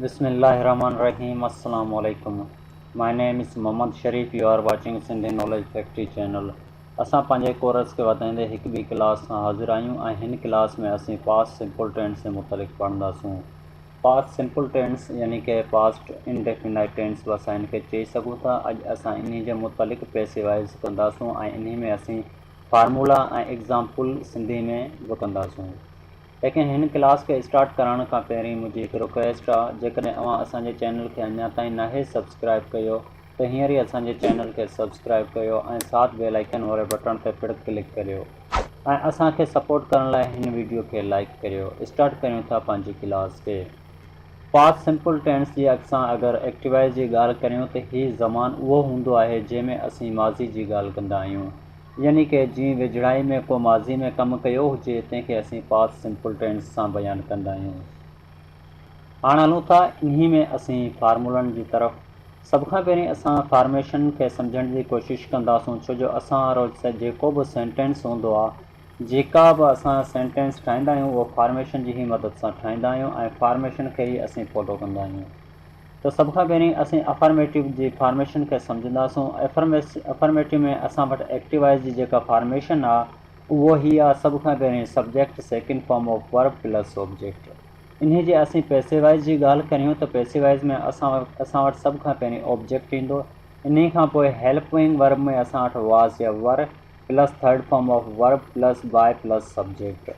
بسم الله الرحمٰن الرحيم السلام عليڪم my name is Muhammad Sharif you are watching Sindhi knowledge factory channel اسان پنهنجي ڪورس کي وڌائيندي هڪ ٻي ڪلاس سان حاضر آهيون ۽ هن ڪلاس ۾ اسين پاس سمپل ٽينس جي متعلق پڙهنداسون پاسٽ سمپل ٽينس يعني ڪه پاسٽ انڊيفنائيٽ ٽينس به اسان هن کي چئي سگهون ٿا. اڄ اسان انهي جي متعلق پيسي وائز ڪنداسون ۽ انهي ۾ اسين فارمولا ۽ ايگزامپل سنڌي ۾ به ڪنداسون. ليڪن هن ڪلاس کي اسٽارٽ ڪرائڻ کان پهرين منهنجي هڪ رڪويسٽ آ جيڪڏهن اوهان اسان جي چينل کي اڃا تائين ناهي سبسڪرائيب ڪيو ته هينئر ئي اسان جي چينل کي سبسڪرائب ڪيو ۽ ساٿ بيل آئيڪن واري بٽڻ تي پڻ ڪلڪ ڪريو ۽ اسان کي سپورٽ ڪرڻ لاء هن ويڊيو کي لائيڪ ڪريو اسٽارٽ ڪريون ٿا پنهنجي ڪلاس کي پاسٽ سمپل ٽينس جي اڳ سان اگر ايڪٽيوائز جي ڳالهه ڪريون ته هي زمان اهو هوندو آهي جنهن ۾ اسين ماضي جي ڳالهه ڪندا آهيون يعني ڪي جيئن ويجهڙائي ۾ ڪو ماضي ۾ ڪم ڪيو هجي تنهن کي اسين پاسٽ سمپل ٽينس سان بيان ڪندا آهيون. هاڻ هلون ٿا انهي ۾ اسين فارمولن جي طرف. سڀ کان پهرين اسان فارميشن کي سمجهڻ جي ڪوشش ڪنداسون ڇو جو اسان روز جيڪو به سينٽينس هوندو آ جيڪا به اسان سينٽينس ٺاهيندا آهيون اهو فارميشن جي هي مدد سان ٺاهيندا آهيون ۽ فارميشن کي ئي اسين فالو ڪندا آهيون ته سڀ کان پهرين اسين افرميٽو جي فارميشن کي سمجهنداسون افرميٽو ۾ اسان وٽ ايڪٽيوائز جي جيڪا فارميشن آ اهو هي آ سڀ کان پهرين subject second form of verb plus object. انهي جي اسين پئسي وائيز جي ڳالهه ڪريون ته پئسي وائيز ۾ اسان اسان وٽ سڀ کان پهرين آبجيڪٽ ايندو انهي کان پوء هيلپوئنگ ورب ۾ اسان وٽ واز يا were plus third form of verb plus by plus subject.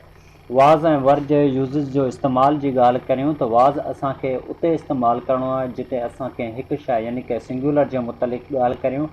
Was ۽ were جي يوزز جو استعمال جي ڳالهه ڪريون ته واز اسان کي اتي استعمال ڪرڻو آهي جتي اسان ڪنهن هڪ شيء يعني ڪنهن سنگيولر جي متعلق ڳالهه ڪريون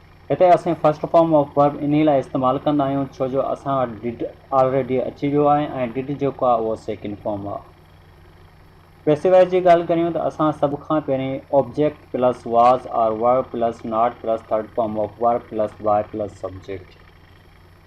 هتي اسين فرسٽ فارم آف ورب انهي لاء استعمال ڪندا آهيون ڇو جو اسان وٽ ڊڊ آلريڊي اچي ويو آهي ۽ ڊڊ جيڪو آهي اهو سيڪنڊ فارم آهي. پئسو وائيز جي ڳالهه ڪريون ته اسان سڀ کان پهرين object plus was or were plus not plus third form of verb plus why plus subject.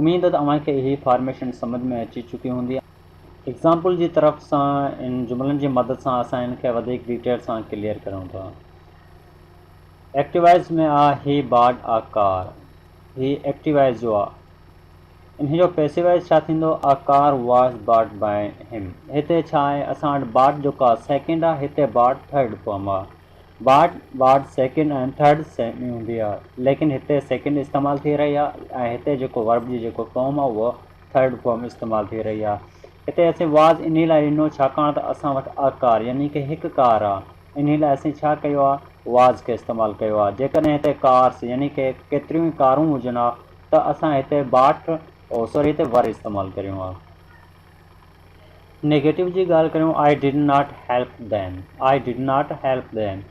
اميد ته اوهان کي اهي فارميشن سمجهه ۾ اچي چڪي هوندي. ايگزامپل جي طرف سان ان جملن جي مدد سان اسان ان کي وڌيڪ ڊيٽيل سان ڪليئر ڪريون ٿا. ايڪٽيوائيز ۾ آ هي بارڊ آ ڪار. هي ايڪٽيوائيز جو آ. انهي جو پيسيوائيز ڇا ٿيندو؟ A car was bought by him. هتي ڇا آهي؟ اسان وٽ بارڊ جو ڪاز سيڪنڊ آ. هتي بارڊ ٿرڊ فارم آ. Bought bought second ۽ third same هوندي آهي ليڪن هتي سيڪنڊ استعمال ٿي رهي آهي ۽ هتي جيڪو ورب جي جيڪو فارم آهي اهو ٿرڊ فارم استعمال ٿي رهي آهي هتي اسين واز انهي لاء ڏنو ڇاڪاڻ ته اسان وٽ ا ڪار يعني ڪي هڪ ڪار آهي انهي لاء اسين ڇا ڪيو آهي واز کي استعمال ڪيو آهي جيڪڏهن هتي ڪارس يعني ڪي ڪيتريون ئي ڪارون هجن ها ته اسان هتي باٽ او سوري هتي ور استعمال ڪريون ها. نيگيٽو جي ڳالهه ڪريون I did not help them I did not help them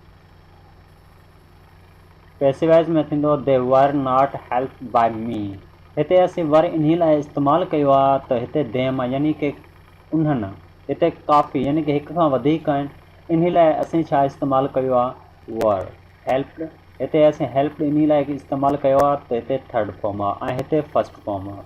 پئسيوائز ۾ ٿيندو they were not help by me هتي اسين ور انهي لاء استعمال ڪيو آهي ته هتي ديم يعني ڪي انهن هتي ڪافي يعني ڪي هڪ کان وڌيڪ آهن انهي لاء اسين ڇا استعمال ڪيو آهي ور هيلپڊ هتي اسين هيلپڊ انهي لاء استعمال ڪيو آهي ته هتي ٿرڊ فارم آهي ۽ هتي فرسٽ فارم آهي.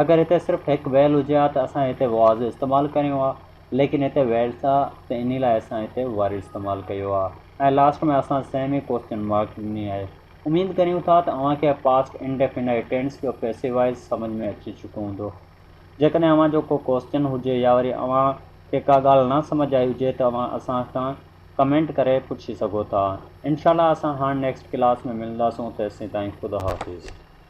اگر هتي صرف هڪ ويل هجي ها ته اسان هتي وعظ استعمال ڪريون ها ليڪن هتي ويلس آ ته انهي لاء اسان هتي واري استعمال ڪيو آ ۽ لاسٽ ۾ اسان سيمي ڪوسچن مارڪ ڏني آهي اميد ڪريون ٿا ته اوهان کي پاسٽ انڊيفينائيٽ ٽينس جو پيسيوائيز سمجھ ۾ اچي چڪو هوندو جيڪڏهن اوهان جو ڪو ڪوسچن هجي يا وري اوهان کي ڪا ڳالھ نه سمجھ آئي هجي ته اوهان اسان کان ڪمينٽ ڪري پڇي سگهو ٿا انشاء الله اسان هاڻ نيڪسٽ ڪلاس ۾ ملنداسون تيسين تائين خدا حافظ.